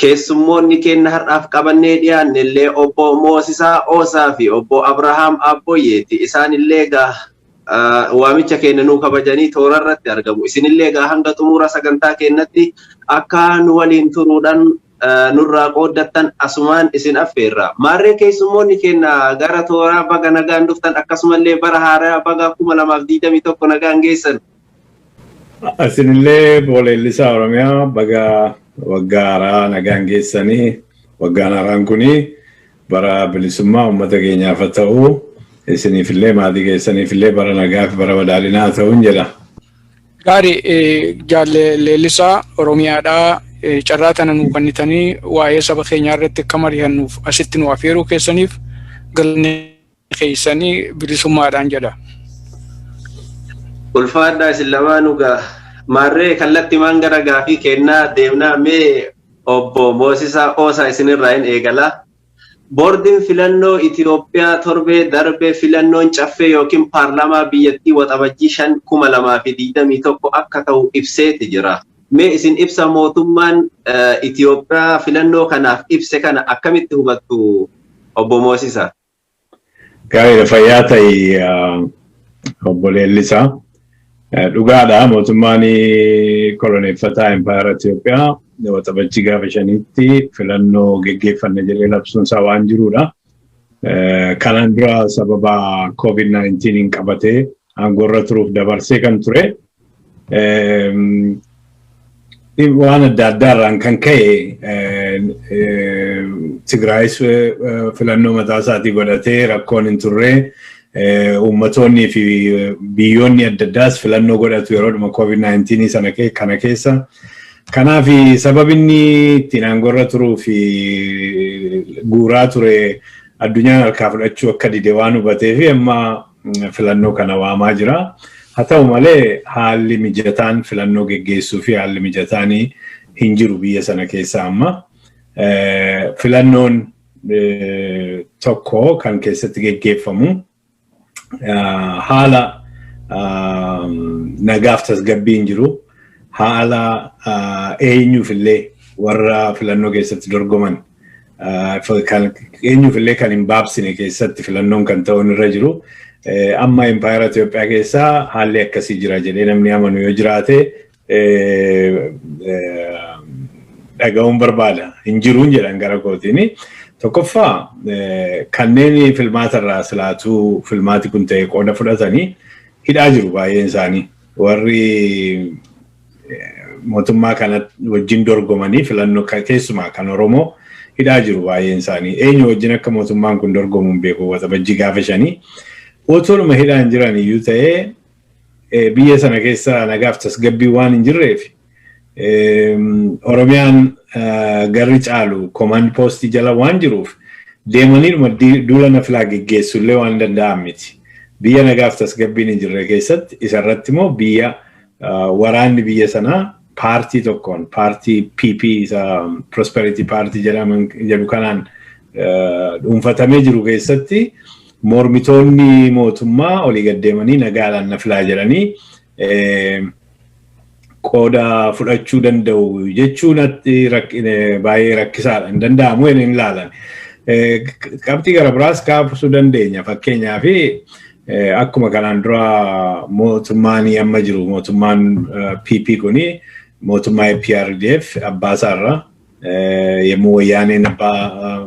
Keessummoonni keenna har'aaf qabannee dhiyaannellee Obbo Moosisaa Oosaa fi Obbo Abrahaam Aabboyyeeti. Isaanillee egaa waamicha keenna nuu kabajanii toorarratti argamu. Isinillee egaa hanga xumura sagantaa keennatti akka nu waliin turuudhaan nurraa qooddattan asumaan isin affeerra. Maarree keessummoonni keenna gara tooraa baga nagaan dhuftan akkasumallee bara haarayaa baga 2021 nagaan geessan. Isinillee boola Ellisaa Oromiyaa baga waggaa haaraa nagaan geessanii waggaan haaraan kuni bara bilisummaa uummata keenyaaf haa ta'u isiniifillee maatii keessaniifillee bara nagaa fi bara badhaadhinaa haa ta'uun jedha. Gaari jaalle leellisaa Oromiyaadhaa carraa tana nuu kennitanii waa'ee saba keenyaa irratti akka mari'annuuf asitti nu afeeruu keessaniif galanni keessanii bilisummaadhaan jedha. Ulfaadhaa isin lamaanuu gaa. Maarree kallattimaan gara gaafii kennaa deemnaa mee obbo Moosisaa Oosaa isinirraa hin eegala. Boordiin filannoo Itoophiyaa torbee darbe filannoon caffee yookiin paarlaamaa biyyattii Waxabajjii 5,2021 akka ta'u ibseeti jira. Mee isin ibsa mootummaan Itoophiyaa filannoo kanaaf ibse kana akkamitti hubattu obbo Moosisaa? Gaariidha fayyaa ta'i obbo Leellisaa. Dhugaadha mootummaan koloneeffataa Impaayera Itoophiyaa waxabajjii gaafa shaniitti filannoo geggeeffanna jedhee labsuun isaa waan jiruudha. Kanaan dura sababa COVID-19 qabatee aangoorra turuuf dabarsee kan ture waan adda addaarraan kan ka'e Tigraayis filannoo mataa isaatii godhatee rakkoon hin turre uummattoonnii fi biyyoonni adda addaas filannoo godhatu yeroodhuma COVID-19 sana kana keessa. Kanaaf sababinni ittiin aangorra turuu fi guuraa ture addunyaan harkaa fudhachuu akka dide waan hubatee fi amma filannoo kana waamaa jira. Haa ta'u malee haalli mijataan filannoo geggeessuu fi haalli mijataan hin jiru biyya sana keessa amma. Filannoon tokko kan keessatti geggeeffamu haala nagaaf tasgabbii hin jiru. Haala eenyuuf illee warra filannoo keessatti dorgoman Eenyuuf illee kan hin baabsine keessatti filannoon kan ta'uun irra jiru. Amma impaayera Itoophiyaa keessaa haalli akkasii jira jedhee namni amanu yoo jiraate dhaga'uun barbaada. Hin jiruun jedhan gara kootiin. Tokkoffaa kanneen filmaata irraa silaatuu filmaati kun ta'e qooda fudhatanii hidhaa jiru baay'een isaanii. Warri mootummaa kana wajjin dorgomanii filannoo keessumaa kan Oromoo hidhaa jiru baay'een isaanii. Eenyu wajjin akka mootummaan kun dorgomu hin beeku waxabajjii gaafa shanii. Otoluma hidhaan jiran iyyuu ta'ee biyya sana keessa nagaaf tasgabbii waan hin jirreef Oromiyaan garri caalu komaand poostii jala waan jiruuf deemaniiruma duula nafilaa geggeessu illee waan danda'an miti. Biyya nagaaf tasgabbiin hin jirre keessatti isarratti immoo biyya waraanni biyya sanaa paartii tokkoon paartii PP isa Prosperity Party jedhaman jedhu kanaan dhuunfatamee jiru keessatti mormitoonni mootummaa olii gad deemanii nagaadhaan nafilaa jedhanii qooda fudhachuu danda'u jechuun baay'ee rakkisaadha hin danda'amu hin ilaalan. Qabxii gara biraas kaasuu dandeenya fakkeenyaaf akkuma kanaan dura mootummaan amma jiru mootummaan PP kuni mootummaa EPRDF abbaa isaarra yommuu wayyaaneen abbaa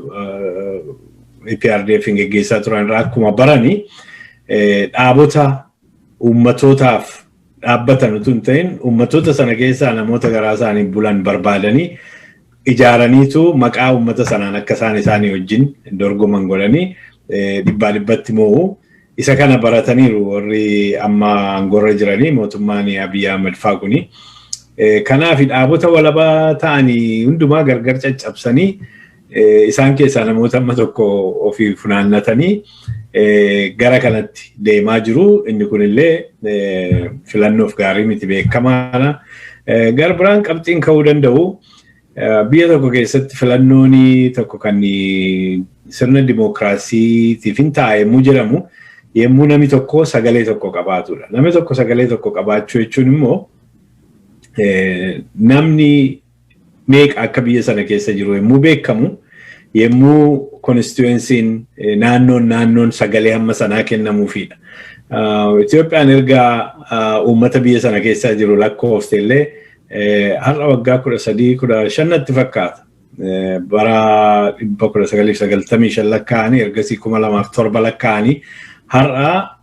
EPRDF hin geggeessaa turan irraa akkuma barani dhaabota uummatootaaf dhaabbatan utuu hin ta'in uummattoota sana keessaa namoota garaa isaanii bulan barbaadanii ijaaraniitu maqaa uummata sanaan akka isaan isaanii wajjin dorgoman godhanii dhibbaa dhibbatti moo'u. Isa kana barataniiru warri amma aangorra jiranii mootummaan Abiyyi Ahmed faa kuni. Kanaaf dhaabota walabaa ta'anii hundumaa gargar caccabsanii Isaan keessaa namoota amma tokko ofii funaannatanii gara kanatti deemaa jiru. Inni kunillee filannoof gaarii miti beekamaadha. Gara biraan qabxiin ka'uu danda'u biyya tokko keessatti filannoon tokko kan sirna dimookiraasiitiif hin taa'emuu jedhamu yommuu namni tokko sagalee tokko qabaatudha. Namni tokko sagalee tokko qabaachuu jechuun immoo namni meeqa akka biyya sana keessa jiru yommuu beekamu yommuu konstituensiin naannoon naannoon sagalee hamma sanaa kennamuufiidha. Itoophiyaan erga uummata biyya sana keessaa jiru lakkoofte illee har'a waggaa kudha sadii kudha shannatti fakkaata. Bara dhibba kudha sagalii fi sagaltamii shan lakkaa'anii ergasii kuma lamaaf torba lakkaa'anii har'a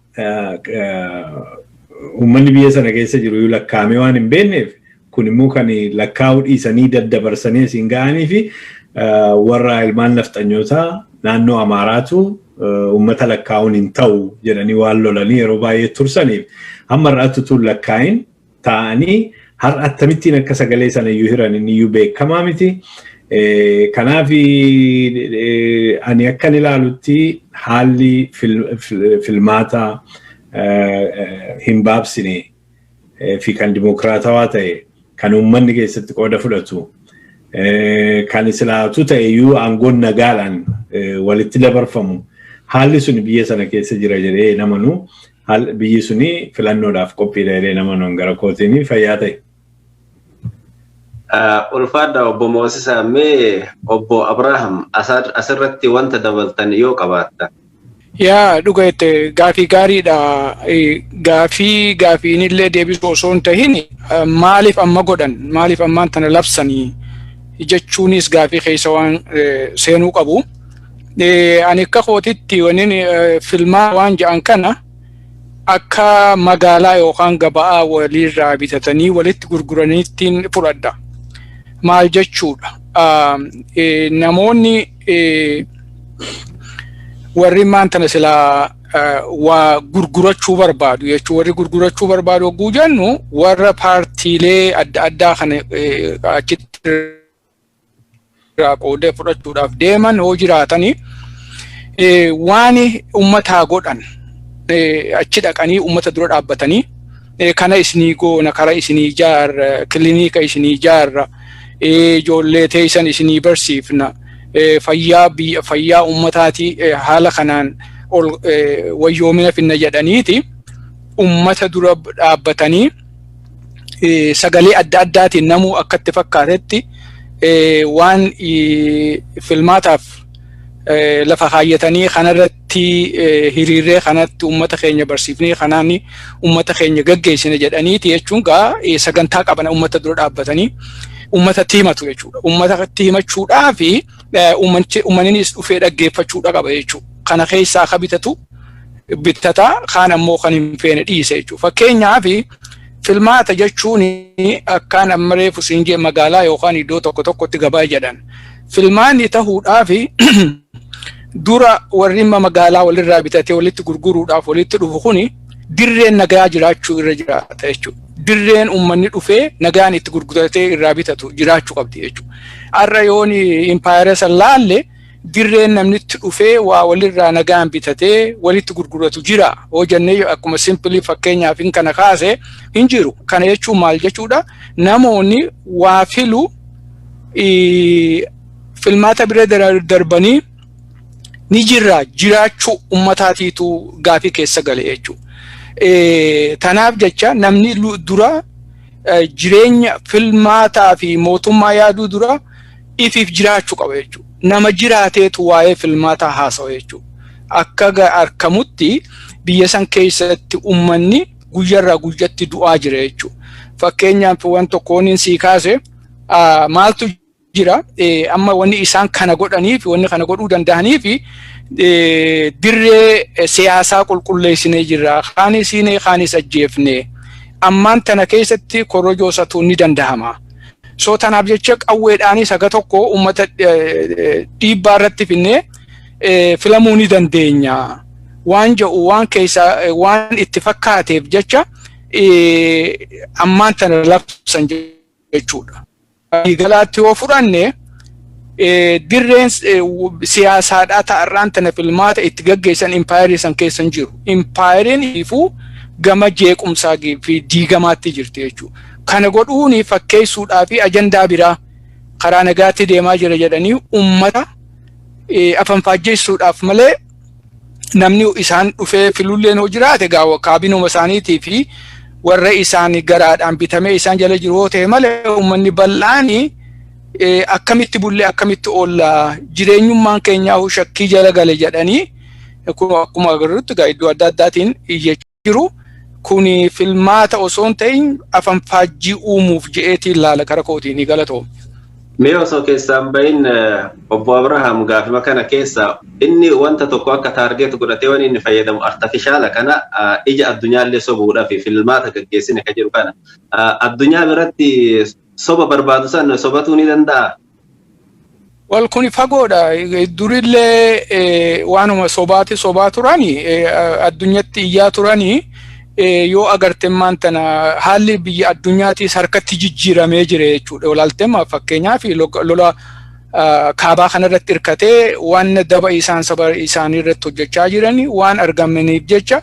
uummanni biyya sana keessa jiru iyyuu lakkaa'amee waan hin beekneef kun immoo kan lakkaa'uu dhiisanii daddabarsanii asiin ga'anii fi warra ilmaan nafxanyootaa naannoo Amaaraatu uummata lakkaa'uun hin ta'u jedhanii waan lolanii yeroo baay'ee tursaniif hamma irraatti utuu lakkaa'in taa'anii har'a attamittiin akka sagalee sana iyyuu hiran inni iyyuu beekamaa miti. Kanaaf ani akkan ilaalutti haalli filmaataa hin baabsine fi kan dimokiraatawaa ta'e kan uummanni keessatti qooda fudhatu kan islaatu ta'e iyyuu aangoon nagaadhaan walitti dabarfamu haalli sun biyya sana keessa jira jedhee namanu Haal biyyi suni filannoodhaaf qophiidha jedhee nama non gara kootiin fayyaa ta'e. Ulfaadha obbo Moosisaa mee obbo Abrahaam asirratti wanta dabaltan yoo qabaattan. Yaa dhuga jette gaafii gaariidha. Gaafii gaafiinillee deebisuu osoo hin tahin maaliif amma godhan maaliif ammaan tana labsanii jechuunis gaafii keessa waan seenuu qabu. ani akka kootitti waniin filmaa waan ja'an kana akka magaalaa yookaan gaba'aa waliirraa bitatanii walitti gurguraniittiin fudhadha. Maal jechuudha? Namoonni warri maantana silaa waa gurgurachuu barbaadu jechuun warri gurgurachuu barbaadu hogguu jennu warra paartiilee adda addaa kana achitti irraa qoodee fudhachuudhaaf deeman yoo jiraatanii waan ummataa godhan achi dhaqanii ummata dura dhaabbatanii kana isinii goona kara isinii ijaarra kiliniika isinii ijaarra ijoollee teessan isinii barsiifna fayyaa biyya fayyaa ummataati haala kanaan ol wayyoomina finna jedhaniiti ummata dura dhaabbatanii sagalee adda addaatiin namuu akka itti fakkaatetti waan filmaataaf lafa kaayyatanii kanarratti hiriirree kanatti uummata keenya barsiifnee kanaan uummata keenya gaggeessine jedhaniiti jechuun gaa sagantaa qaban uummata dura dhaabbatanii uummatatti himatu jechuudha. Uummatatti himachuudhaa fi uummannis dhufee dhaggeeffachuudha qaba jechuudha. Kana keessaa akka bitatu bittata kaan ammoo kan hin feene dhiise jechuudha. Fakkeenyaaf filmaata jechuun akkaan amma reefu siin jee magaalaa yookaan iddoo tokko tokkotti gabaa jedhan. Filmaanni tahuudhaaf dura warri imma magaalaa walirraa bitatee walitti gurguruudhaaf walitti dhufu kuni dirreen nagaa jiraachuu irra jiraata jechuudha. Dirreen uummanni dhufee nagaan itti gurguratee irraa bitatu jiraachuu qabdi jechuudha. Har'a yoon impaayera san laalle dirreen namni itti dhufee waa walirraa nagaan bitatee walitti gurguratu jira hoo jennee yoo akkuma simpilii fakkeenyaaf hin kana kaase hin jiru kana jechuun maal jechuudha namoonni waa filu ii, filmaata bira dara- darbanii ni jirra jiraachuu ummataatiitu gaafii keessa gale jechuudha. Eh, Tanaaf jecha namni lu- dura eh, jireenya filmaataa fi mootummaa yaaduu dura ifiif jiraachuu qaba jechuudha. Nama jiraateetu waa'ee filmaataa haasawa jechuudha. Akka ga- arkamutti biyya san keessatti ummanni guyyarraa guyyatti du'aa jira jechuudha. Fakkeenyaaf waan tokko wanni sii kaase ah, maaltu jira eh, amma wanni isaan kana godhaniif wanni kana godhuu danda'aniif eh, dirree eh, siyaasaa qulqulleessinee jirra. Kaanis hiinee kaanis ajjeefnee. Ammaan tana keessatti korojoo satuun ni danda'ama. So tanaaf jecha qawweedhaanis haga tokko uummata dhiibbaa irratti finnee filamuu ni dandeenya waan jedhu waan keessa waan itti fakkaateef jecha ammaan tana labsan jechuudha. Galaatti yoo fudhanne. dirreen siyaasaadhaa ta'arraan tana filmaata itti gaggeessan impaayerii san keessa hin jiru. Impaayeriin ifuu gama jeequmsaa fi diigamaatti jirti jechuudha. Kana godhuun fakkeessuudhaa fi ajandaa biraa karaa nagaatti deemaa jira jedhanii uummata afanfaajjeessuudhaaf malee namni isaan dhufee filulleen hoo jiraate gaa kaabinuma isaaniitii fi warra isaanii garaadhaan bitamee isaan jala jiru hoo ta'e malee uummanni bal'aan akkamitti bullee akkamitti oolla jireenyummaan keenyaa shakkii jala gale jedhanii akkuma agarrutti gaa iddoo adda addaatiin iyyachuu. jiru kun filmaata osoo hin ta'in afanfaajjii uumuuf je'eetiin laala kara kootiin ni galatoom. Mee osoo keessaan bahin obbo Abrahaam gaafima kana keessa inni wanta tokko akka taargeet godhatee waan inni fayyadamu artifishaala kana ija addunyaallee sobuudhaaf filmaata gaggeessine ka jedhu kana addunyaa biratti soba barbaadu san sobatuu ni danda'a Wal kuni fagoodha. Durillee waanuma sobaati sobaa turani addunyatti iyyaa turani yoo agarte maan tana haalli biyya addunyaatiis harkatti jijjiiramee jire jechuudha. Olaaltema fakkeenyaaf lola kaabaa kanarratti hirkatee waan daba isaan saba isaanii irratti hojjechaa jiran waan argamaniif jecha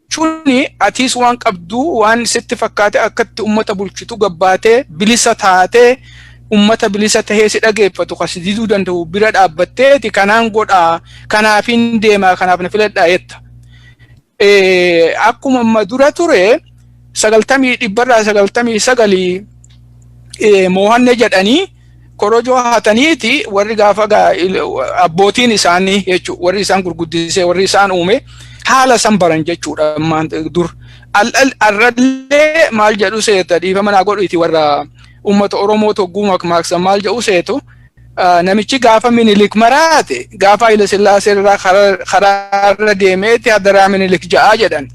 jechuun atiis waan qabdu waan sitti fakkaate akkatti ummata bulchitu gabbaatee bilisa taatee ummata bilisa tahee si dhageeffatu kan si diduu danda'u bira dhaabbatteeti kanaan godhaa kanaafiin deemaa kanaaf na filadhaa jetta. Akkuma amma dura ture sagaltamii dhibbarraa sagaltamii sagalii moohanne jedhanii korojoo hataniiti warri gaafa gaa- il- abbootiin isaanii jechuudha warri isaan gurguddisee warri isaan uume haala san baran jechuudha ammaan dur Al- al- arrallee maal jedhu seeta dhiifama naa godhuiti warra uummata oromoo togguu makmaaksan maal jedhu seetu ah, namichi gaafa minilik maraate gaafa hayila sillaasee irraa karaa- karaa irra deemeeti hadaraa minilik ja'aa jedhan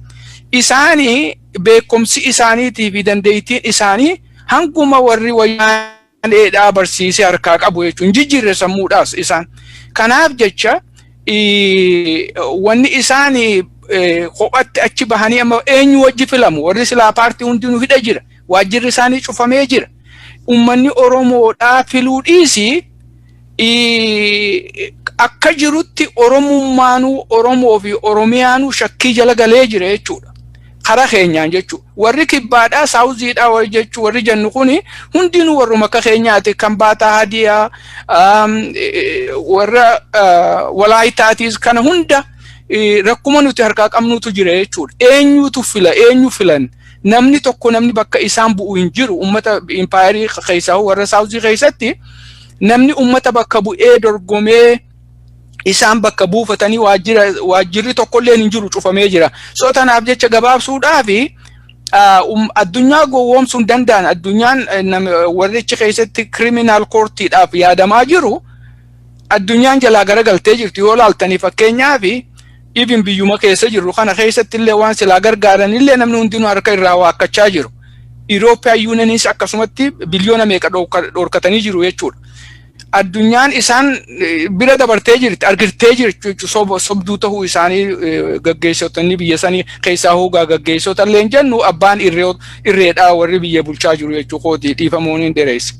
isaanii beekumsi isaaniitii fi dandeettiin isaanii hanguma warri wayyaaneedhaa barsiisee harkaa qabu jechuun jijjiirre sammuudhaas isaan. Kanaaf jecha wanni isaan kophatti achi bahanii amma eenyu wajji filamu warri silaa paartii hundinuu hidha jira waajjirri isaanii cufamee jira. Uummanni Oromoodhaa filuu dhiisii akka jirutti Oromummaanuu Oromoo fi Oromiyaanuu shakkii jala galee jira jechuudha. Karaa keenyaan jechuudha. Warri kibbaadhaa saawuziidhaa warri jechuu warri jennu kuni hundinuu warruma akka keenyaati kan baataa hadiyaa warra walaayitaatiis kana hunda rakkuma nuti harkaa qabnuutu jira jechuudha. Eenyuutu fila eenyu filan Namni tokko namni bakka isaan bu'u hin jiru. Uummata impaayerii keessaa warra saawuzii keessatti namni uummata bakka bu'ee dorgomee isaan bakka buufatanii waajjirri tokkollee hin jiru cufamee jira. So tanaaf jecha gabaabsuudhaaf addunyaa gowwoomsuu hin danda'an addunyaan warrichi keessatti kiriminaal koortiidhaaf yaadamaa jiru. addunyaan jalaa garagaltee jirti yoo laaltanii fakkeenyaaf Even biyyuma keessa jirru kana keessatti illee waan silaa gargaaran illee namni hundinuu harka irraa waakkachaa jiru. Irooppiyaan yuunaniis akkasumatti biliyoona meeqa dhorkatanii jiru jechuudha. Addunyaan isaan bira dabartee jirti, argirtee jirti jechuudha. Sobduu ta'uu isaanii gaggeessotni biyya sanii keessaa hoogaa gaggeessota illee hin jennu abbaan irreedhaa warri biyya bulchaa jiru jechuudha. Kooti dhiifamuun hin dheereessa.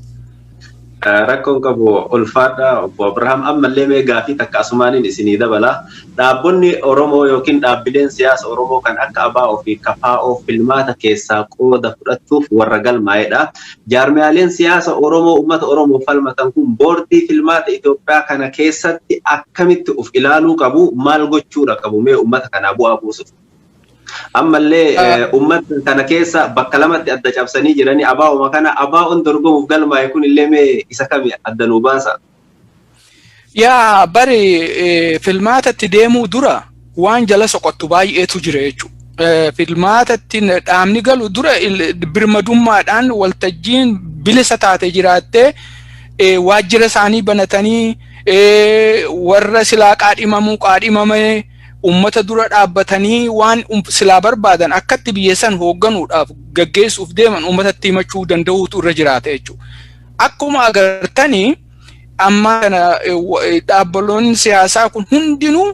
Rakkoon qabu ulfaadha obbo Abrahaam ammallee mee gaafii takka asumaaniin isinii dabala dhaabbonni Oromoo yookiin dhaabbileen siyaasa Oromoo kan akka abo fi kfo filmaata keessaa qooda fudhachuuf warra galmaa'edha. Jaarmiyaaleen siyaasa Oromoo ummata Oromoof falmatan kun boordii filmaata Itoophiyaa kana keessatti akkamitti uf ilaaluu qabu maal gochuudha qabu mee ummata kanaa bu'aa buusuuf? Ammallee uummata kana keessa bakka lamatti adda cabsanii jiranii abaa'uma kana abaa'oon dorgomuuf galmaa'e kun illee mee isa kami adda nuu baasa? Yaa bari filmaatatti deemuu dura waan jala soqottu baay'eetu jira jechuudha. Filmaatatti dhaabni galu dura birmadummaadhaan waltajjiin bilisa taate jiraattee waajjira isaanii banatanii warra silaa qaadhimamuu qaadhimamee ummata dura dhaabbatanii waan um- silaa barbaadan akkatti biyya san hoogganuudhaaf gaggeessuuf deeman ummatatti himachuu danda'uutu irra jiraata jechuudha. Akkuma agartanii amma kana eh, wa- eh, dhaabbaloonni siyaasaa kun hundinuu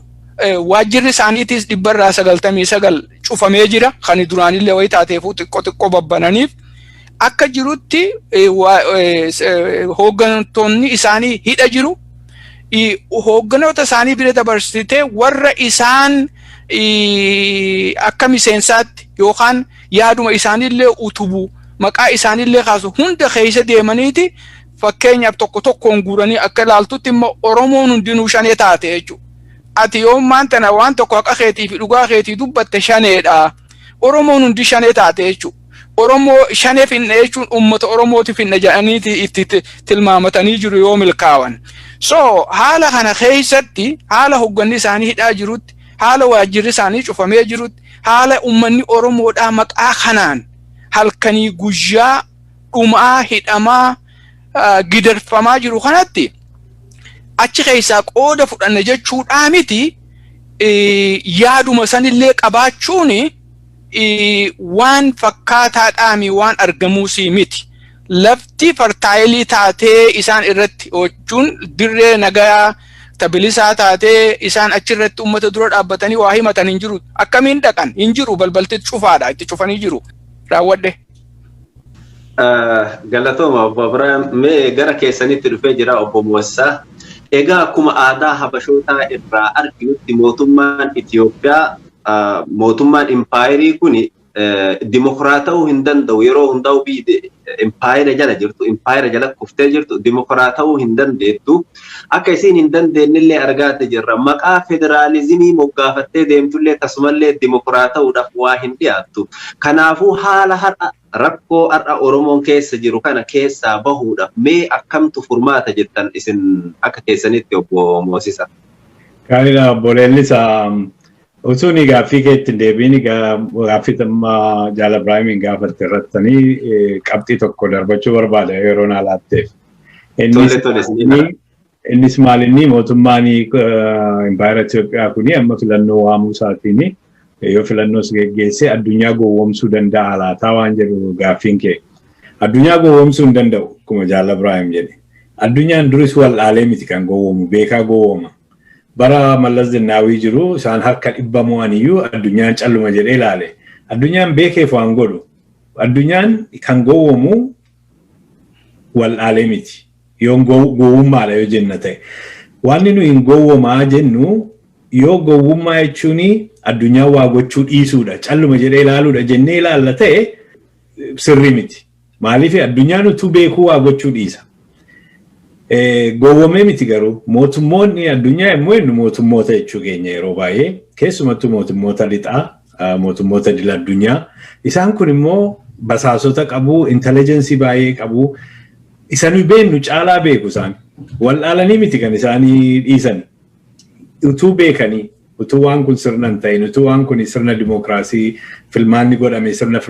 eh, waajjirri isaaniitiis dhibbarraa sagaltamii sagal cufamee jira. Kan duraanillee wayii taateefuu xiqqoo xiqqoo babbananiif akka jirutti eh, waa- eh, s- eh, hooggantoonni isaanii hidha jiru. hoogganoota isaanii bira dabarsitee warra isaan akka miseensaatti yookaan yaaduma isaaniillee utubu maqaa isaaniillee kaasu hunda keessa deemaniiti fakkeenyaaf tokko tokkoon guuranii akka ilaaltutti immoo Oromoon hundinuu shanee taate jechuudha. Ati yoommaan tana waan tokko haqa keetii fi dhugaa keetii dubbatte shaneedha. Oromoon hundi shanee taate jechuudha. Oromoo shanee finna jechuun uummata Oromooti finna jedhaniiti itti tilmaamatanii jiru yoo milkaawan. So haala kana keessatti haala hogganni isaanii hidhaa jirutti, haala waajjirri isaanii cufamee jirutti, haala uummanni Oromoodhaa maqaa kanaan halkanii guyyaa dhumaa, hidhamaa, gidirfamaa jiru kanatti achi keessaa qooda fudhanna jechuudhaa miti yaaduma sanillee qabaachuuni waan fakkaataa dhaami waan argamuu sii miti. Lafti fartaayilii taatee isaan irratti hojjechuun dirree nagayaa tabilisaa taatee isaan achirratti uummata dura dhaabbatanii waa himatan hin jiru. Akkamiin dhaqan hin jiru balbalti cufaadha itti cufanii jiru. Raawwadhe. Galatooma obbo Abiraam mee gara keessanitti dhufee jira obbo Moossaa. Egaa akkuma aadaa Habashootaa irraa arginutti mootummaan Itoophiyaa mootummaan impaayerii kun dimokiraata'uu hin danda'u yeroo hundaa'u biyyi impaayera jala jirtu impaayera jala kuftee jirtu dimokiraata'uu hin dandeettu. Akka isiin hin dandeennellee argaadhe jirra. Maqaa federaalizimii moggaafattee deemtullee tasumallee dimokiraata'uudhaaf waa hin dhiyaattu. Kanaafuu haala har'a, rakkoo har'a Oromoon keessa jiru kana keessaa bahuudhaaf mee akkamtu furmaata jettan isin akka keessanitti Obbo Moosisa? Gaariidha Obbo Leellisaa. Utuu ani gaaffii keetti hin deebi'in gaaffii amma Jaal Ibraahimiin gaafatte irrattanii qabxii tokko darbachuu barbaada yeroo naa laatteef. Tole tole sinii. Innis maal inni mootummaan impaayera Itoophiyaa kuni amma filannoo waamuu isaatiin yoo filannoos geggeessee addunyaa gowwoomsuu danda'a laataa waan jedhu gaaffiin kee. Addunyaa gowwoomsuu hin danda'u akkuma Jaal Abiraahim jedhe. Addunyaan duris wal'aalee miti kan gowwoomu beekaa gowwooma. Bara Mallas Zinnaawii jiru isaan harka dhibba mo'aniyyuu addunyaan calluma jedhee ilaale. Addunyaan beekeef waan godhu. Addunyaan kan gowwoomu wal'aalee miti. Yoon gow- gowwummaadha yoo jenna ta'e. Wanni nu hin gowwomaa jennu yoo gowwummaa jechuun addunyaa waa gochuu dhiisuudha, calluma jedhee ilaaluudha jennee ilaalla ta'e eh, sirrii miti. Maaliif addunyaan utuu beekuu waa gochuu dhiisa. Eh, Gowwomee miti garuu mootummoonni addunyaa yommuu jennu mootummoota jechuu keenya yeroo baay'ee keessumattuu mootummoota lixaa mootummoota idil addunyaa. Isaan kun immoo basaasota qabu, intelligensii baay'ee qabu. Isa nuyi beennu caalaa beeku isaan. Wal'aalanii miti kan isaanii dhiisan. Utuu beekanii, utuu waan kun sirna hin ta'in, utuu waan kun sirna dimookiraasii filmaanni godhame sirna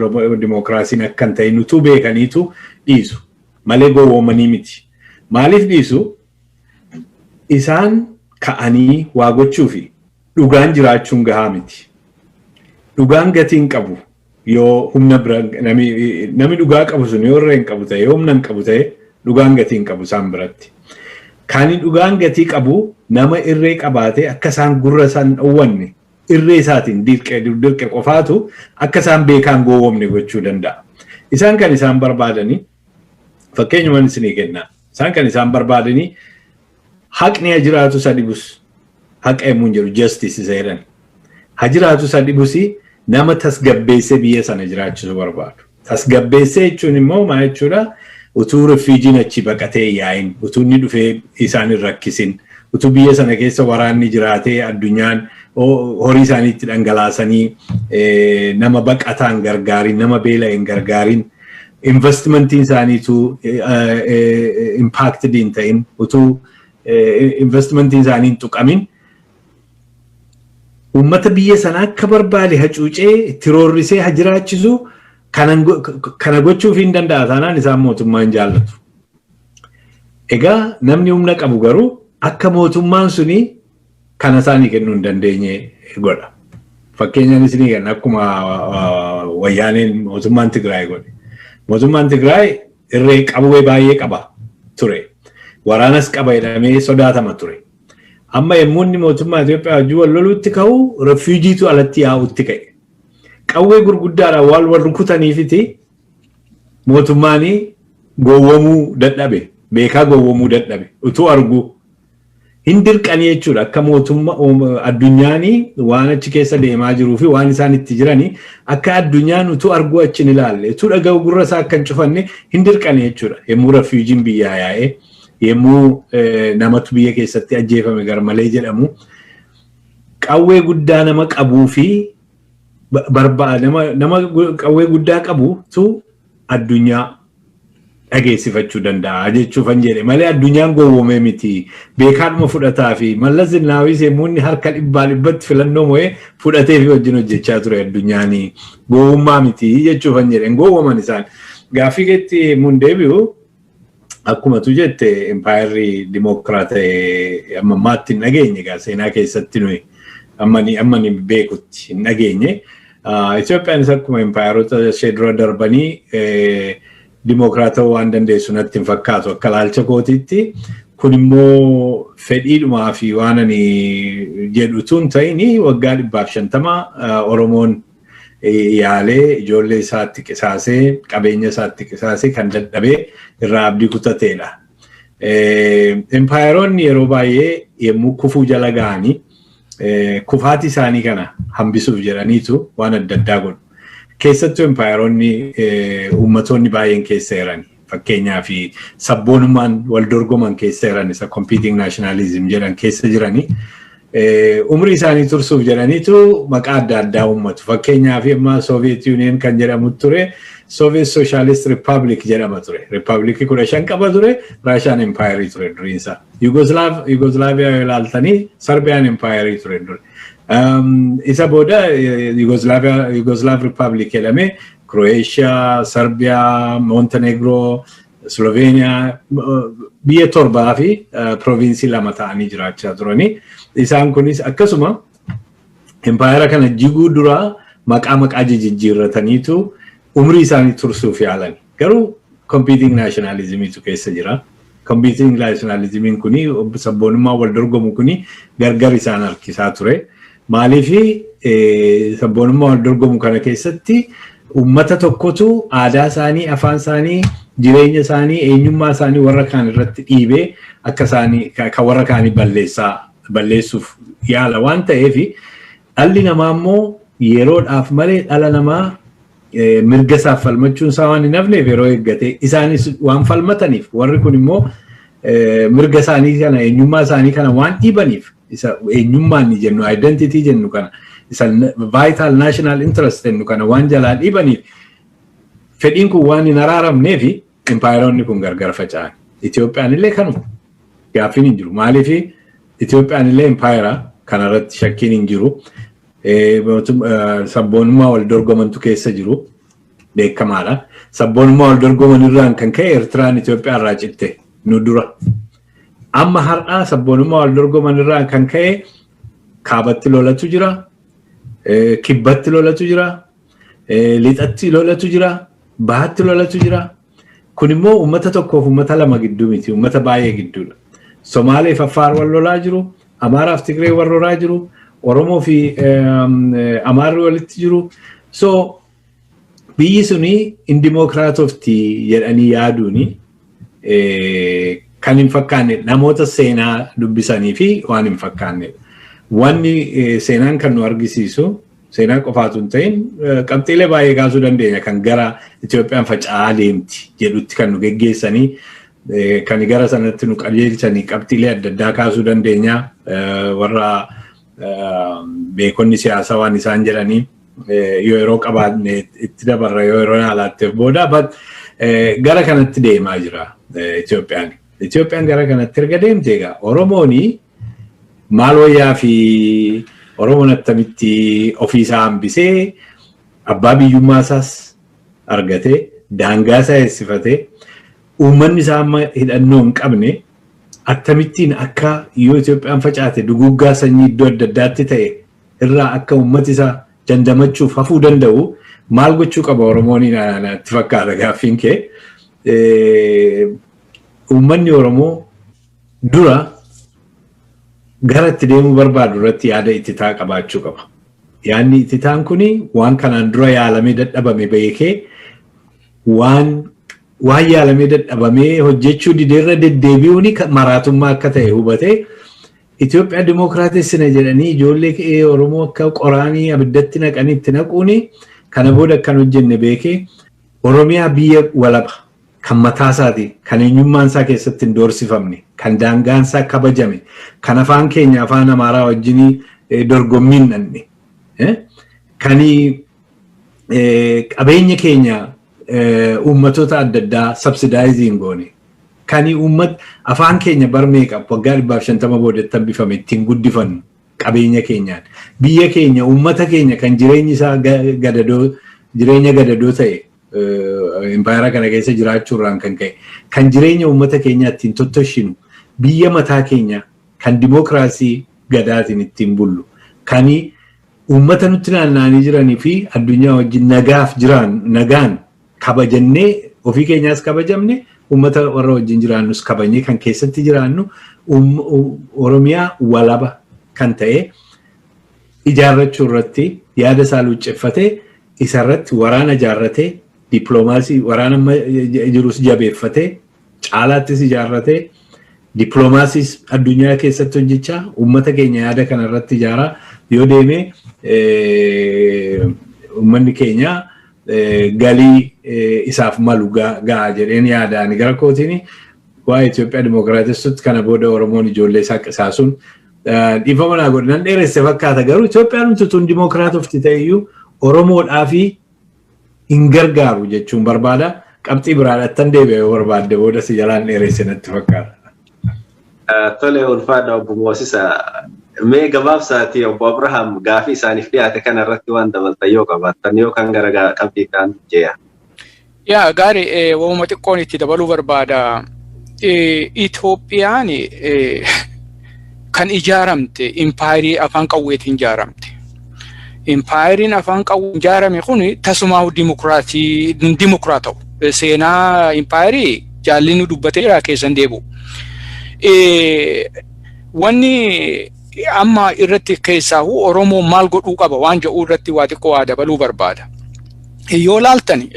dimookiraasiin akka hin ta'in utuu beekaniitu dhiisu. Malee gowwoomanii miti. Maaliif dhiisu? Isaan ka'anii waa gochuufi. Dhugaan jiraachuun gahaa miti. Dhugaan gatii hin qabu. Yoo humna bira nami nami dhugaa qabu sun yoo irra hin qabu ta'e yoo humna hin qabu ta'e dhugaan gatii hin qabu isaan biratti. Kan dhugaan gatii qabu nama irree qabaatee akka isaan gurra isaan dhowwanne irree isaatiin dirqe dirqe qofaatu akka isaan beekaan gowwomne gochuu danda'a. Isaan kan isaan barbaadanii Fakkeenyuma isinii kenna. Isaan kan isaan barbaadanii haqni ha jiraatu isa dhibus haqa yommuu hin jedhu justice isa jedhan. Ha jiraatu isa dhibus nama tasgabbeessee biyya sana jiraachisu barbaadu. Tasgabbeessee jechuun immoo maa jechuudha utuu rifiijiin achi baqatee yaa'in utuu inni dhufee isaan hin rakkisin utuu biyya sana keessa waraanni jiraatee addunyaan horii isaanii itti dhangalaasanii nama baqataan gargaarin nama beela'een gargaarin. Investimentiin isaanii utuu impacted hin ta'in, utuu investimentiin isaanii hin tuqamin uummata biyya sana akka barbaade hacuucee itti roorrisee ha jiraachisu kana gochuuf hin danda'a taanaan isaan mootummaa hin jaallatu. Egaa namni humna qabu garuu akka mootummaan suni kana isaanii kennuu hin dandeenye godha. Fakkeenyaan isinii kenna akkuma wayyaaneen mootummaan Tigraay godhe. Mootummaan Tigraay irree qawwee baay'ee qaba ture. Waraanas qaba jedhamee sodaatama ture. Amma yommuu inni mootummaa Itoophiyaa wajjin wal loluutti ka'u refuujiitu alatti yaa'utti ka'e. Qawwee gurguddaadhaan wal wal rukutaniifiti mootummaan gowwomuu dadhabe. Beekaa gowwomuu dadhabe. Utuu arguu hin dirqanii jechuudha akka mootumma addunyaan waan achi keessa deemaa jiruu fi waan isaan itti jiranii akka addunyaan utuu arguu achi hin ilaalle utuu dhaga'u gurra isaa akka hin cufanne hin dirqanii jechuudha yommuu rafiijiin biyyaa yaa'ee yommuu namatu biyya keessatti ajjeefame garmalee jedhamu qawwee guddaa nama qabuu fi nama qawwee guddaa qabutu addunyaa dhageessifachuu danda'a jechuufan jedhe malee addunyaan gowwoomee miti beekaadhuma fudhataa fi mallas zinnaawii seemuunni harka dhibbaa dhibbatti filannoo mo'ee fudhatee fi wajjin hojjechaa ture addunyaanii gowwummaa miti jechuufan jedhe hin gowwoman isaan gaaffii keetti mun deebi'u Akkuma tu jette impaayerri dimookiraata'e amma ammaatti hin dhageenye egaa seenaa keessatti nuyi amma ni amma ni beekutti hin dhageenye. Ah, Itoophiyaanis akkuma impaayerota ishee dura darbanii eh, dimookiraata'uu waan dandeessu natti hin fakkaatu akka ilaalcha kootiitti. Kun immoo fedhiidhumaa fi waan ani jedhu tun ta'ini waggaa dhibbaaf shantama ah, Oromoon yaalee ijoollee isaatti qisaasee qabeenya isaatti qisaasee kan dadhabee irraa abdii kutateedha. Empaayeroonni yeroo baay'ee yommuu kufuu jala ga'anii kufaatii isaanii kana hambisuuf jedhaniitu waan adda addaa godhu. Keessattuu empaayeroonni uummatoonni baay'een keessa jirani. Fakkeenyaa fi sabboonummaan wal dorgoman keessa jiran isa competing nationalism jedhan keessa jiranii umrii isaanii tursuuf jedhaniitu maqaa adda addaa uummatu. Fakkeenyaa fi amma Soviet Union kan jedhamu ture Soviet Socialist Republic jedhama ture. Riippaabilikii kudha shan qaba ture Raashaan empaayerii ture duriinsa. Yugoslaaviyaa yoo ilaaltanii Sarbiyaan empaayerii ture duri. Isa booda Yugoslaav Riippaabilik jedhamee Croatia, Serbia, Montenegro, Slovenia biyya torbaa fi proviinsii lama ta'anii jiraachaa turani. Isaan kunis akkasuma empayera kana jiguu dura maqaa maqaa jijjiirrataniitu umrii isaanii tursuuf yaalan. Garuu competing nationalismiitu keessa jira. Kompiitiin naashinaalizimiin kuni sabboonummaan wal dorgomu kuni gargar isaan harkisaa ture. Maaliif sabboonummaa wal dorgomu kana keessatti uummata tokkotu aadaa isaanii, afaan isaanii, jireenya isaanii, eenyummaa isaanii warra kaan irratti dhiibee akka isaanii kan warra kaanii balleessaa balleessuuf yaala waan ta'eef dhalli namaa immoo yeroodhaaf malee dhala namaa mirga isaaf falmachuun isaa waan hin hafneef yeroo eeggate isaanis waan falmataniif warri kun immoo mirga isaanii kana eenyummaa isaanii kana waan dhiibaniif isa eenyummaan ni jennu identity jennu kana isa vital national interest jennu kana waan jalaa dhiibaniif fedhiin kun waan hin araaramneef Impaayeroonni kun gargar faca'an. Itoophiyaan illee kanuma. Gaaffiin hin jiru. Maaliif Itoophiyaan illee impaayera kanarratti shakkiin hin jiru. Sabboonummaa wal dorgomantu keessa jiru. Beekamaadha. Sabboonummaa wal dorgoman irraan kan ka'e Eertiraan Itoophiyaa irraa citte nu dura. Amma har'aa sabboonummaa wal dorgoman irraan kan ka'e kaabatti lolatu jira. Kibbatti lolatu jira. Lixatti lolatu jira, bahatti lolatu jira. Kun immoo uummata tokkoof uummata lama gidduu miti, uummata baay'ee gidduudha. Somaalee fi Affaar wal lolaa jiru, Amaaraaf Tigree wal lolaa jiru, Oromoo fi Amaarri walitti jiru. So biyyi suni hin dimookiraatofti jedhanii yaaduuni kan hin fakkaanne namoota seenaa dubbisanii fi waan hin fakkaanne. Wanni seenaan kan nu argisiisu Seenaa qofaa osoo hin ta'in qabxiilee baay'ee kaasuu dandeenya kan gara Itoophiyaan faca'aa deemti jedhutti kan nu geggeessanii kan gara sanatti nu qajeelchanii qabxiilee adda addaa kaasuu dandeenya warra beekonni siyaasaa waan isaan jedhanii yoo yeroo qabaanne itti dabarra yoo yeroo alaatteef booda gara kanatti deemaa jira Itoophiyaan. Itoophiyaan gara kanatti erga deemte egaa Oromoon Maal wayyaa fi Oromoon attamitti ofii isaa hambisee abbaa biyyummaa isaas argatee daangaa isaa eessifatee uummanni isaa amma hidhannoo hin qabne attamittiin akka yoo Itoophiyaan facaate duguuggaa sanyii iddoo adda addaatti ta'e irraa akka uummati isaa dandamachuuf hafuu danda'u maal gochuu qaba Oromoon natti fakkaata gaaffiin kee. Uummanni Oromoo Dura gara itti deemuu barbaadu irratti yaada ittitaa qabaachuu qaba. Yaadni ittitaan kun waan kanaan dura yaalamee dadhabame beekee waan waan yaalamee dadhabamee hojjechuu dideerra deddeebi'uun maraatummaa akka ta'e hubatee Itoophiyaa dimookiraatessina jedhanii ijoollee qe'ee Oromoo akka qoraanii abiddatti naqanii itti naquun kana booda akkan hojjenne beekee Oromiyaa biyya walaba kan mataasaati, kan eenyummaansaa keessatti hin doorsifamne, kan daangaansaa kabajame, kan afaan keenya afaan Amaaraa wajjin dorgommii hin dhanne, kan qabeenya keenya uummatoota adda addaa sabsidaayizii hin goone, kan uummat afaan keenya bar meeqa waggaa dhibbaaf shantama boodetti hambifame ittiin guddifannu qabeenya keenyaan. Biyya keenya uummata keenya kan jireenyi isaa gadadoo jireenya gadadoo ta'e Impaayera kana keessa jiraachuu irraan kan ka'e kan jireenya uummata keenyaa ittiin tottoshinu biyya mataa keenya kan dimookiraasii gadaatiin ittiin bullu kan uummata nutti naanna'anii jiranii fi addunyaa wajjin nagaaf jiraan nagaan kabajannee ofii keenyaas kabajamne uummata warra wajjin jiraannus kabajnee kan keessatti jiraannu Oromiyaa walaba kan ta'e ijaarrachuu irratti yaada isaa luucceffatee isa irratti waraana ijaarratee dippiloomaasii waraana amma jirus jabeeffatee caalaattis ijaarratee dippiloomaasiis addunyaa keessatti hojjechaa uummata keenya yaada kana irratti ijaaraa yoo deeme uummanni keenya galii isaaf malu ga'a jedheen yaada ani gara kootiin waa'ee Itoophiyaa dimookiraatessutti kana booda Oromoon ijoollee isaa qisaasuun Dhiifama naa godhi nan dheeresse fakkaata garuu Itoophiyaan utuun dimookiraatofti ta'eyyuu Oromoodhaa fi hin gargaaru jechuun barbaada. Qabxii biraadhattan deebi'e yoo barbaadde booda si jalaan dheeresse natti fakkaata. Tole ulfaadha obbo Moosisa. Mee gabaabsaati obbo Abrahaam gaafii isaaniif dhiyaate kana irratti waan dabaltan yoo qabaattan yoo kan gara qabxii ta'an jeeya. Yaa gaari wamuma xiqqoon itti dabaluu barbaada. Itoophiyaan kan ijaaramte impaayirii afaan qawweetiin ijaaramte. Impaayiriin afaan qawween ijaarame kun tasumaa dimokiraatii dimokiraata'u. Seenaa impaayirii jaalli nu dubbateera keessan deebi'u. Wanni amma irratti keessaahu Oromoo maal godhuu qaba waan jedhu irratti waa xiqqoo waa dabaluu barbaada. yoo laaltan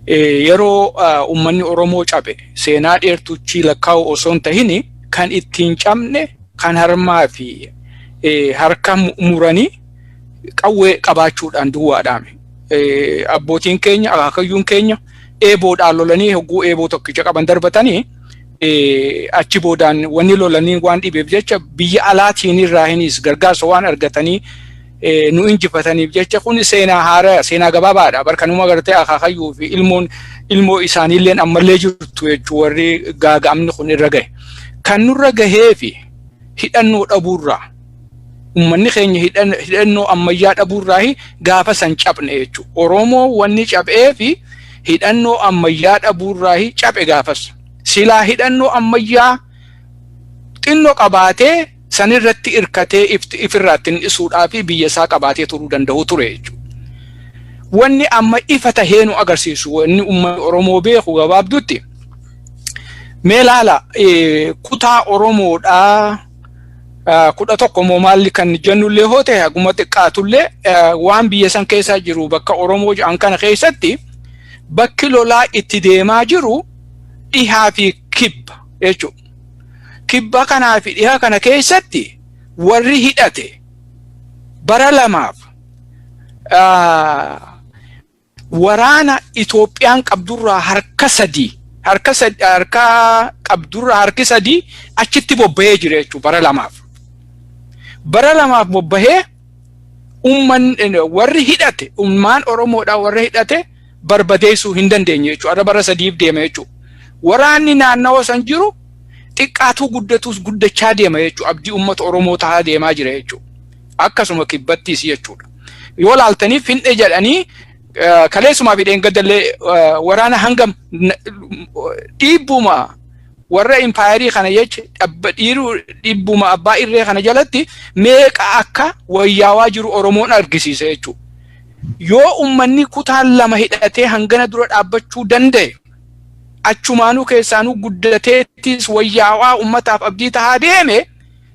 yeroo uummanni Oromoo cabe seenaa dheertuuchi lakkaa'u osoo hin tahin kan ittiin cabne kan harmaa fi harka muranii qawwee qabaachuudhaan duwwaadhaame. Abbootiin keenya akaakayyuun keenya eeboodhaan lolanii hogguu eeboo tokkicha qaban darbatanii achi boodaan wanni lolanii waan dhibeef jecha biyya alaatiin irraa hinis gargaarsa waan argatanii nu injifataniif jecha kun seenaa haaraa seenaa gabaabaadha bar kanuma gartee akaakayyuu fi ilmoon ilmoo isaaniilleen ammallee jirtu jechuu warri gaaga'amni kun irra gahe kan nurra gahee fi hidhannoo dhabuurraa ummanni keenya hidhannoo ammayyaa dhabuurraa gaafa san caphne jechuu oromoo wanni caphee fi hidhannoo ammayyaa dhabuurraa caphe gaafas silaa hidhannoo ammayyaa xinnoo qabaatee san irratti irkatee if irraatti hin dhisuudhaa fi biyya isaa qabaatee turuu danda'u ture jechuudha. Wanni amma ifa tahee nu agarsiisu wanni uummanni Oromoo beeku gabaabdutti mee laala kutaa Oromoodhaa kudha tokko moo maalli kan jennullee hoo ta'e haguma xiqqaatullee waan biyya san keessa jiru bakka Oromoo jedhan kana keessatti bakki lolaa itti deemaa jiru dhihaa fi kibba jechuudha. Kibba kanaa fi dhiha kana keessatti warri hidhate bara lamaaf waraana Itoophiyaan qabdurraa harka sadii harka harka qabdurraa harki sadii achitti bobba'ee jira jechuudha bara lamaaf. Bara lamaaf bobba'ee umman warri hidhate ummaan Oromoodhaa warra hidhate barbadeessuu hin dandeenye jechuudha. Arra bara sadiif deema jechuudha. Waraanni naannawa san jiru xiqqaatuu guddatuus guddachaa deema jechuudha. Abdii uummata Oromoo tahaa deemaa jira jechuudha. Akkasuma kibbattiis jechuudha. Yoo laaltaniif fin'e jedhanii kaleessumaa fi dheengadallee waraana hangam dhiibbuma warra impaayerii kana jecha dhabba dhiiruu dhibbuma abbaa irree kana jalatti meeqa akka wayyaawaa jiru Oromoon argisiise jechuudha. Yoo ummanni kutaan lama hidhatee hangana dura dhaabbachuu danda'e achumaanuu keessaanuu guddateettis wayyaawaa ummataaf abdii tahaa deeme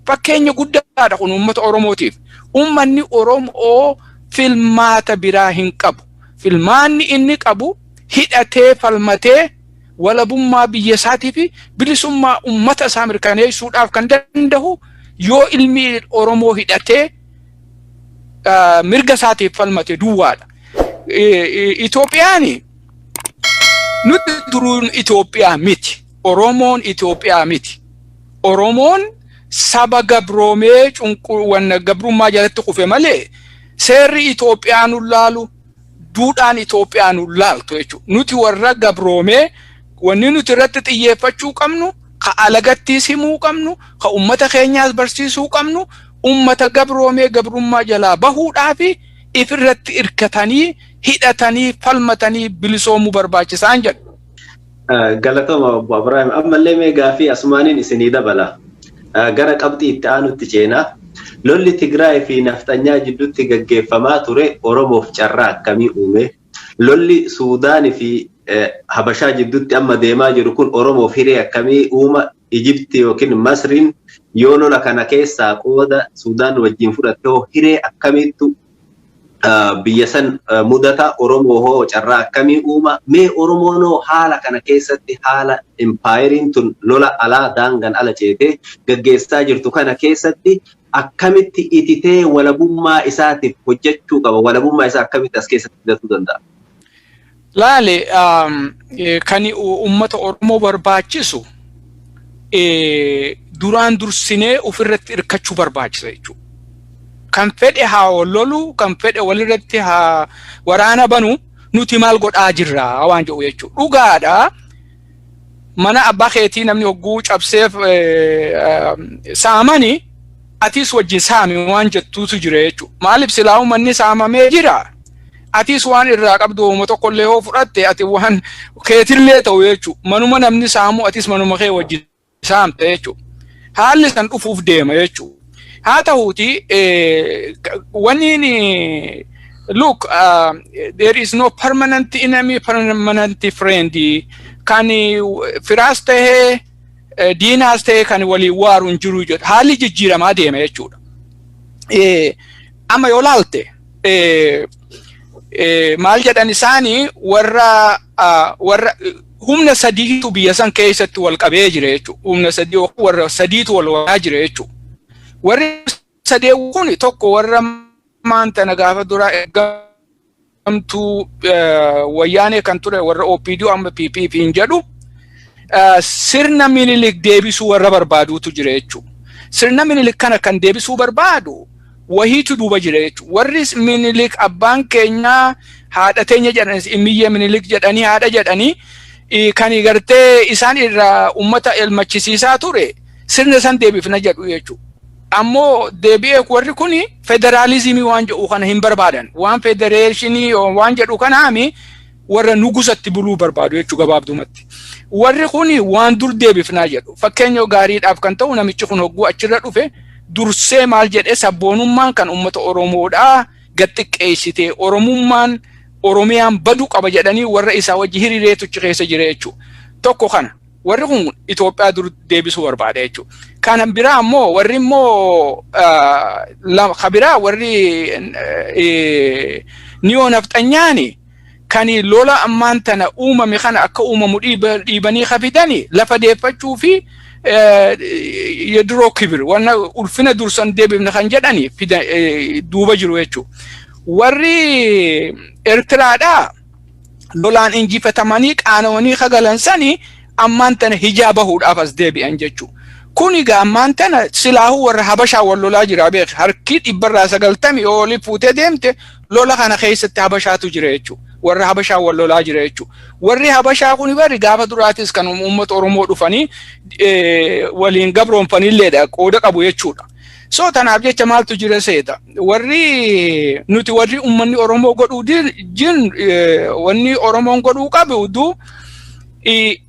fakkeenya guddaadha kun ummata Oromootiif. Ummanni Oromoo filmaata biraa hin qabu. Filmaanni inni qabu hidhatee falmatee walabummaa biyya isaatii fi bilisummaa ummata isaa mirkaneessuudhaaf kan danda'u yoo ilmi Oromoo hidhatee mirga isaatiif falmate duwwaadha. Itoophiyaan nuti duruun Itoophiyaa miti. Oromoon Itoophiyaa miti. Oromoon saba gabroomee cunqursaa gabrummaa jalatti kufe malee seerri Itoophiyaa nu laalu duudhaan Itoophiyaa nu laaltu jechuudha. Nuti warra gabroomee wanni nuti irratti xiyyeeffachuu qabnu ka alagattiis himuu qabnu ka ummata keenyaas barsiisuu qabnu ummata gabroomee gabrummaa jalaa bahuudhaa fi ifirratti irkatanii hidhatanii falmatanii bilisoomuu barbaachisaan jedha. Galatoma obbo Abiraahim ammallee mee gaaffii asumaaniin isinii dabala. Gara qabxii itti aanutti ceena. Lolli Tigraay fi Nafxanyaa jidduutti gaggeeffamaa ture Oromoof carraa akkamii uume? Lolli Suudaan fi Habashaa jidduutti amma deemaa jiru kun Oromoof hiree akkamii uuma? Ijipti yookiin Masriin yoo lola kana keessaa qooda Suudaan wajjin fudhatte hoo hiree akkamiittu biyya san mudata Oromoo hoo carraa akkamii uuma? Mee Oromoon hoo haala kana keessatti haala impaayeriin tun lola alaa daangan ala ceetee gaggeessaa jirtu kana keessatti akkamitti ititee walabummaa isaatiif hojjachuu qaba? Walabummaa isaa akkamitti as keessatti fidatuu danda'a? Laale kan uummata Oromoo barbaachisu duraan dursinee ofirratti hirkachuu barbaachisa jechuudha. Kan fedhe haa lolu, kan fedhe walirratti haa waraana banu nuti maal godhaa jirra waan jedhu jechuudha. Dhugaadha mana abbaa keetii namni hogguu cabseef saamani atiis wajjin saami waan jettuutu jira jechuudha. Maaliif silaa uummanni saamamee jira? Atiis waan irraa qabdu hooma tokkollee yoo fudhatte ati waan keetillee ta'u jechuudha. Manuma namni saamu atiis manuma kee wajjin isaa hamte jechuudha. Haalli san dhufuuf deema jechuudha. Haa ta'uuti wanni look uh, there is no permanent enemy permanent friend kan firaas ta'ee diinaas ta'ee kan waliin waaru hin jiru jedha. Haalli jijjiiramaa deema jechuudha. Amma yoo laalte maal jedhan isaanii warra warra humna sadiitu biyya san keessatti wal qabee jira jechuudha. Humna sadii yookaan warra sadiitu wal waraanaa jira jechuudha. Warri sadee kun tokko warra maanta na gaafa duraa ergamtuu wayyaanee kan ture warra OPDO amma PPP hin jedhu sirna minilik deebisuu warra barbaaduutu jira jechuudha. Sirna minilik kana kan deebisuu barbaadu wahiitu duuba jira jechuudha. Warris Minilik abbaan keenya haadha teenya jedhanis immiyyee Minilik jedhanii haadha jedhanii kan gartee isaan irraa uummata elmachisiisaa ture sirna san deebifna jedhu jechuudha. Ammoo deebi'ee warri kun federaalizimii waan jedhu kana hin barbaadan. Waan federeeshinii waan jedhu kanaami warra nugusatti buluu barbaadu jechuu gabaabdumatti. Warri kun waan dur deebifnaa jedhu. Fakkeenya gaariidhaaf kan ta'u namichi kun hogguu achirra dhufe dursee maal jedhee sabboonummaan kan uummata Oromoodhaa gad xiqqeessitee Oromummaan Oromiyaan badu qaba jedhanii warra isaa wajji hiriireetu achi keessa jira jechuu. Tokko kana warri kun Itoophiyaa dur deebisuu barbaada jechuu. Kana biraa ammoo warri immoo ka biraa warri niyoo nafxanyaani kan lola ammaan tana uumame kana akka uumamu dhiibanii ka fidani lafa deeffachuu fi yediroo kibir wanna ulfina dursan deebifne kan jedhani duuba jiru jechuudha. Warri Ertiraadhaa lolaan injifatamanii qaana'anii ka galan sani ammaan tana hijaa bahuudhaaf as deebi'an jechuudha. Kun egaa ammaan tana silaahuu warra Habashaa wal lolaa jira beekne harki dhibbarraa sagaltamii olii fuutee deemte lola kana keessatti habashaatu jira jechuudha. Warra habashaa wal lolaa jira jechuudha. Warri habashaa kun bari gaafa duraatis kan uummata Oromoo dhufanii waliin gabroomfanilleedha qooda qabu jechuudha. So tanaaf jecha maaltu jira seeta. Warri nuti warri uummanni Oromoo godhuu jin wanni Oromoon godhuu qabdu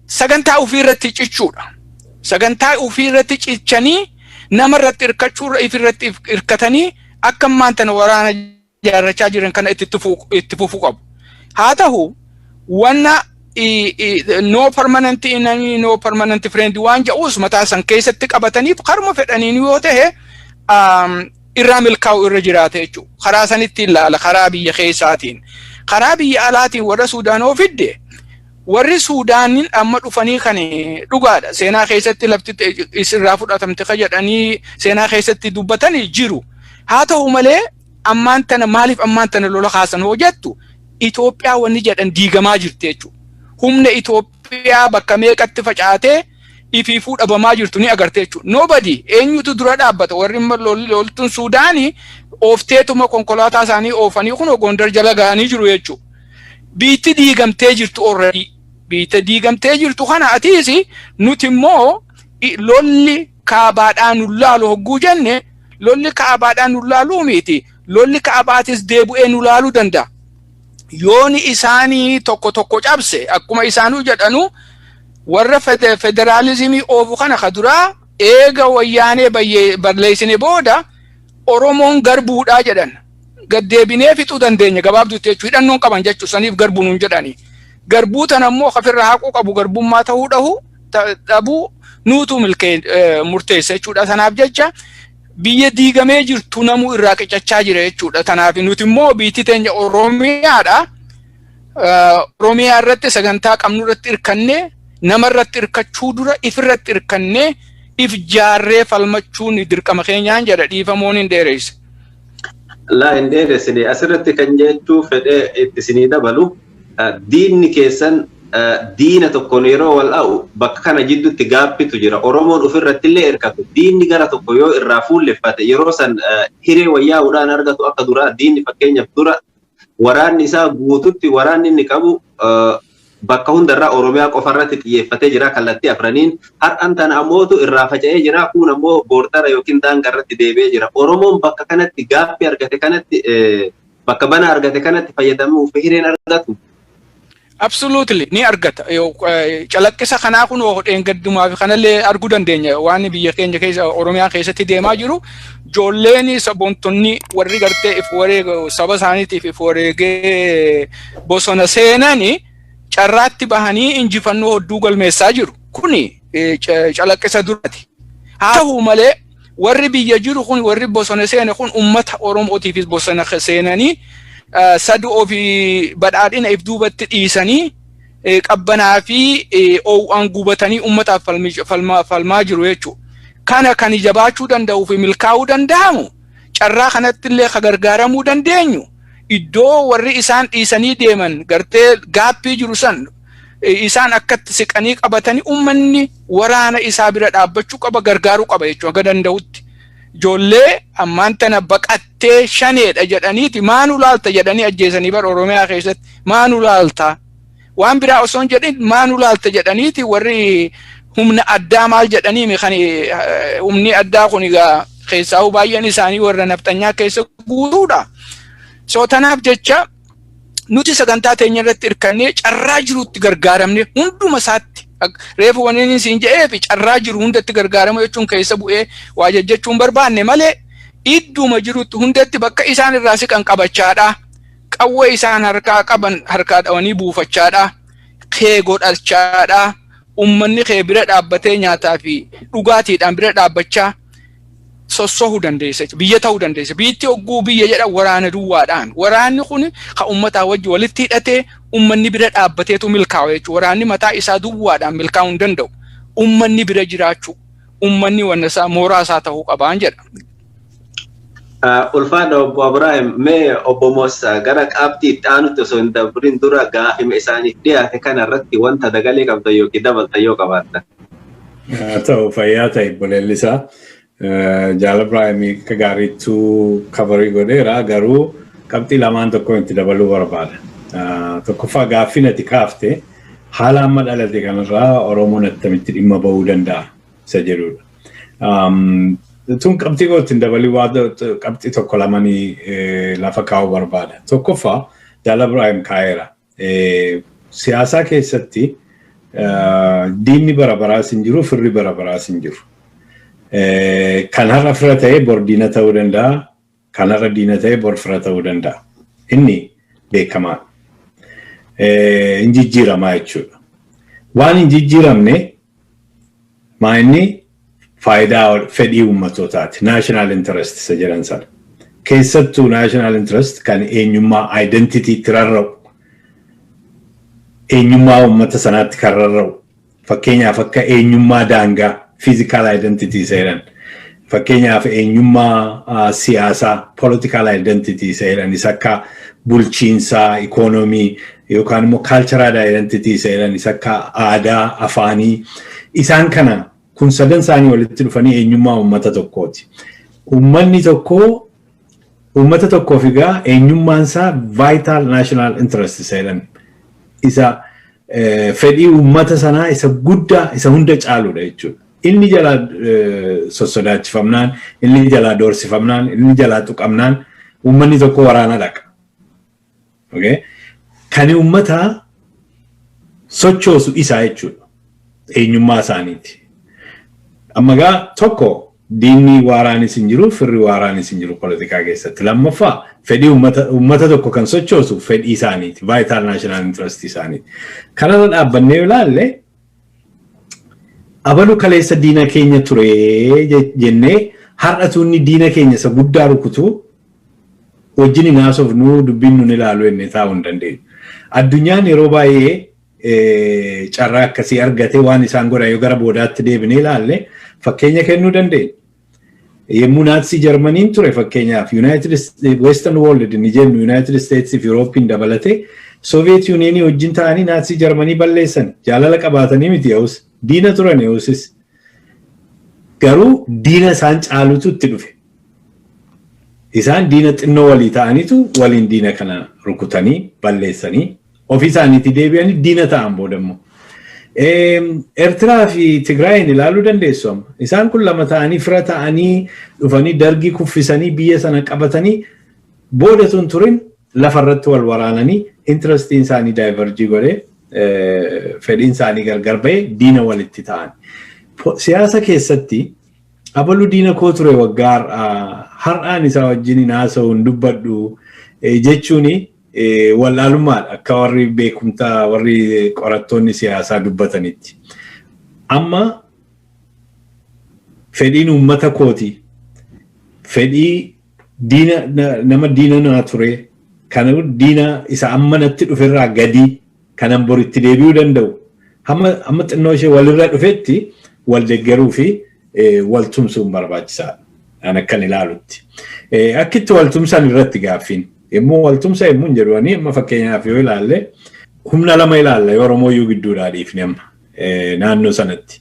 sagantaa ofii irratti cichuudha. Sagantaa ofii irratti cichanii nama irratti hirkachuurra if irratti hirkatanii akka ammaan tana waraana ijaarrachaa jiran kana itti tufu- itti fufuu qabu. Haa ta'u wanna i- i- no permanent enemy no permanent friend waan ja'uus mataa san keessatti qabataniif karma fedhaniin yoo ta'e um, irraa milkaa'u irra jiraata jechuudha. Karaa sanitti ilaala karaa biyya keessaatiin. Karaa biyya alaatiin warra Suudaanoo fidde Warri Suudaaniin amma dhufanii kan dhugaadha. Seenaa keessatti lafti isirraa fudhatamte ka jedhanii seenaa keessatti dubbatanii jiru. Haa ta'u malee ammaan tana maaliif ammaan tana lola kaasan hoo jettu Itoophiyaa wanni jedhan diigamaa jirti jechuudha. Humna Itoophiyaa bakka meeqatti facaatee ifiifuu dhabamaa jirtu ni agarte jechuudha. Nobody eenyutu dura dhaabbata warri amma lol- loltuun Suudaanii oofteetuma konkolaataa isaanii oofanii kun Gondar jala ga'anii jiru jechuudha. Biitti diigamtee jirtu already. Biitta diigamtee jirtu kana atiis nuti immoo lolli kaabaadhaa nu laalu hogguu jenne lolli kaabaadhaa nu laaluu miti. Lolli kaabaatis deebu'ee nu laaluu danda'a. Yooni isaanii tokko tokko cabse akkuma isaanuu jedhanu warra federaalizimii oofu kana ka duraa eega wayyaanee balleessine booda Oromoon garbuudhaa jedhan. gad deebinee fixuu dandeenya gabaabduu itti jechuu hidhannoon qaban jechuu saniif garbuu nuun jedhani. Garbuu tana immoo kafirra haquu qabu garbummaa ta'uu dhahu dhabuu nuutu milkee murteessa jechuudha. Sanaaf jecha biyya diigamee jirtu namuu irraa qicachaa jira jechuudha. Tanaaf nuti immoo biitti teenya Oromiyaadha. Oromiyaa irratti sagantaa qabnu irratti hirkannee nama irratti hirkachuu dura if irratti hirkannee if jaarree falmachuun dirqama keenyaan jedha dhiifamoon hin dheereyse. Laa hin dheeressine asirratti kan jechuu fedhee itti isinii dabalu diinni keessan diina tokkoon yeroo wal a'u bakka kana jidduutti gaappitu jira. Oromoon ofirratti illee hirkatu. Diinni gara tokko yoo irraa fuulleffate yeroo san hiree wayyaa'uudhaan argatu akka duraa diinni fakkeenyaaf dura waraanni isaa guututti waraanni inni qabu bakka hundarraa Oromiyaa qofa irratti xiyyeeffatee jira kallattii afraniin. Har'an tana ammootu irraa faca'ee jira kuun ammoo boordara yookiin daanga irratti deebi'ee jira. Oromoon bakka kanatti gaaffii argate kanatti bakka bana argate kanatti fayyadamuuf hireen argatu. Absolutely ni argata. Calaqqisa kanaa kun dheengaddumaa fi kanallee arguu dandeenya waan biyya keenya keessa Oromiyaa keessatti deemaa jiru joolleen saboontonni warri gartee if wareega saba isaaniitiif if wareegee bosona seenani carraatti bahanii injifannoo hodduu galmeessaa jiru. Kuni calaqqisa duraati. Haa ta'u malee warri biyya jiru kun warri bosona seene kun ummata oromootiifis bosona seenanii saduu ofii badhaadhina if duubatti dhiisanii qabbanaa fi oo'aan gubatanii ummataaf falmaa jiru jechuudha. Kana kan jabaachuu danda'uu fi milkaa'uu danda'amu carraa kanatti illee kan gargaaramuu dandeenyu iddoo warri isaan dhiisanii deeman gartee gaappii jiru san isaan akkatti siqanii qabatanii ummanni waraana isaa bira dhaabbachuu qaba gargaaruu qaba jechuudha haga danda'utti. Ijoollee ammaan tana baqattee shaneedha jedhaniiti maanu laalta jedhanii ajjeesanii bara Oromiyaa keessatti maanu laalta. Waan biraa osoo hin jedhin maanu laalta jedhaniiti warri humna addaa maal jedhanii kan humni addaa kun egaa keessaa baay'een isaanii warra nafxanyaa keessa guutuudha. So tanaaf jecha nuti sagantaa teenya irratti hirkannee carraa jirutti gargaaramne hunduma isaatti reefu waniin siin jedhee fi carraa jiru hundatti gargaaramu jechuun keessa bu'ee waa jajjachuun barbaanne malee idduma jirutti hundatti bakka isaan irraa siqan qabachaadha. Qawwee isaan harkaa qaban harkaa dhawanii buufachaadha. Kee godhachaadha. Uummanni kee bira dhaabbatee nyaataa fi dhugaatiidhaan bira dhaabbachaa sossohu dandeessa jechuudha. Biyya ta'uu dandeessa. Biyyatti ogguu biyya jedha waraana duwwaadhaan. Waraanni kun kan uummataa wajji walitti hidhatee uummanni bira dhaabbateetu milkaawa jechuudha. Waraanni mataa isaa duwwaadhaan milkaa'uu hin danda'u. Uummanni bira jiraachuu, uummanni wanna isaa mooraa isaa ta'uu qabaan jedha. Ulfaadha obbo Abiraahim mee obbo Moosaa gara qabxii itti aanutti osoo hin dabrin dura gaafima isaaniif dhiyaate kana irratti wanta dabalee qabdan yookiin dabaltan yoo qabaattan. Haa ta'u fayyaa ta'e obboleellisaa. Jaala Ibraahimii akka gaariittu kabarii godheera garuu qabxii lamaan tokko itti dabaluu barbaada. Tokkoffaa gaaffiin ati kaafte haala amma dhalate kanarraa Oromoon attamitti dhimma bahuu danda'a isa jedhudha. Tun qabxii koo ittiin dabalii waa qabxii tokko lamanii lafa kaa'uu barbaada. Tokkoffaa Jaala Ibraahim kaa'eera. Siyaasaa keessatti diinni bara baraas hin jiru, firri bara baraas hin jiru. Kan har'a fira ta'e bor diina ta'uu danda'a, kan har'a diina ta'e bor fira ta'uu danda'a. Inni beekamaa. Hin jijjiiramaa jechuudha. Waan hin jijjiiramne Maa inni faayidaa fedhii uummatootaati. National interest isa jedhan sana. Keessattuu national interest kan eenyummaa identity itti rarra'u. Eenyummaa uummata sanaatti kan rarra'u. Fakkeenyaaf akka eenyummaa daangaa physical identity isa jedhan. Fakkeenyaaf eenyummaa siyaasaa, political identity, isa jedhan isa akka bulchiinsaa, ikoonomii yookaan immoo cultural identity isa jedhan isa akka aadaa, afaanii isaan kana kun sadan isaanii walitti dhufanii eenyummaa uummata tokkooti. Uummanni tokko uummata tokkoof egaa eenyummaan isaa vital national interest isa jedhan isa fedhii uummata sanaa isa guddaa isa hunda caaludha jechuudha. Inni jalaa sossodaachifamnaan, inni jalaa doorsifamnaan, inni jalaa tuqamnaan uummanni tokko waraana dhaqa. Okay? Kani uummata sochoosu isaa jechuudha. Eenyummaa isaaniiti. Amma gaa tokko diinni waaraanis hin jiru, firri waaraanis hin jiru politikaa keessatti. Lammaffaa fedhii uummata uummata tokko kan sochoosu fedhii isaaniiti, vital national interest isaaniiti. Kanarra dhaabbannee yoo ilaalle Abalu kaleessa diina keenya ture je- jennee har'atu inni diina keenya isa guddaa rukutu wajjin hin haasofnu dubbiin nun ilaalu jennee taa'uu hin dandeenyu. Addunyaan yeroo baay'ee eh, carraa akkasii argate waan isaan godhan yoo gara boodaatti deebinee ilaalle fakkeenya kennuu dandeenya. Yommuu Naatsii Jarmaniin ture fakkeenyaaf Yuunaayitid Western World ni jennu Yuunaayitid Isteetsii fi Yuuroopiin dabalatee Sooviyeet Yuuniyeenii wajjin ta'anii Naatsii Jarmanii balleessan jaalala qabaatanii miti ya'us diina turan ya'usis garuu diina isaan caalutu itti dhufe. Isaan diina xinnoo walii ta'anitu waliin diina kana rukutanii balleessanii ofii isaaniitii deebi'anii diina ta'an booda immoo. Eertiraa fi Tigraayin ilaaluu dandeessu amma. Isaan kun lama ta'anii fira ta'anii dhufanii dargii kuffisanii biyya sana qabatanii booda sun turin lafarratti wal waraananii intirastiin isaanii daayivarjii godhee fedhiin isaanii gargar ba'ee diina walitti ta'an. Siyaasa keessatti abalu diina koo ture waggaa har'aan isaa wajjin hin haasa'u hin dubbadhu jechuun Wallaalummaadha akka warri beekumtaa warri qorattoonni siyaasaa dubbatanitti. Amma fedhiin uummata kooti fedhii diina nama diina naa ture kana diina isa amma natti dhuferraa gadii kanan bor itti deebi'uu danda'u hamma hamma xinnoo ishee walirra dhufetti wal deggeruu fi eh, wal tumsuun barbaachisaadha. An akkan ilaalutti. Eh, Akka itti wal tumsan irratti gaaffiin. Yommuu wal tumsa yommuu hin jedhu ani amma fakkeenyaaf yoo ilaalle humna lama ilaalla yoo Oromoo iyyuu gidduudhaa dhiifne amma eh, naannoo sanatti.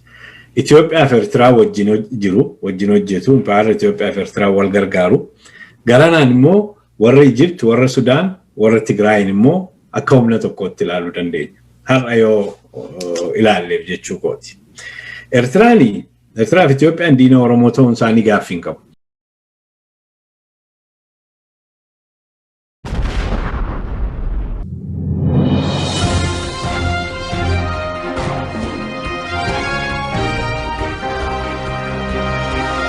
Itoophiyaa fi Eertiraa wajjin hoj- jiru, wajjin hojjetu, impaayarri Itoophiyaa fi Eertiraa wal gargaaru. Garanaan immoo warra Ijipt, warra Sudaan, warra Tigraayin immoo akka humna tokkootti ilaaluu dandeenya. Har'a yoo ilaalleef jechuu kooti. Eertiraan Eertiraa fi Itoophiyaan diina Oromoo ta'uun isaanii gaaffii hin qabu.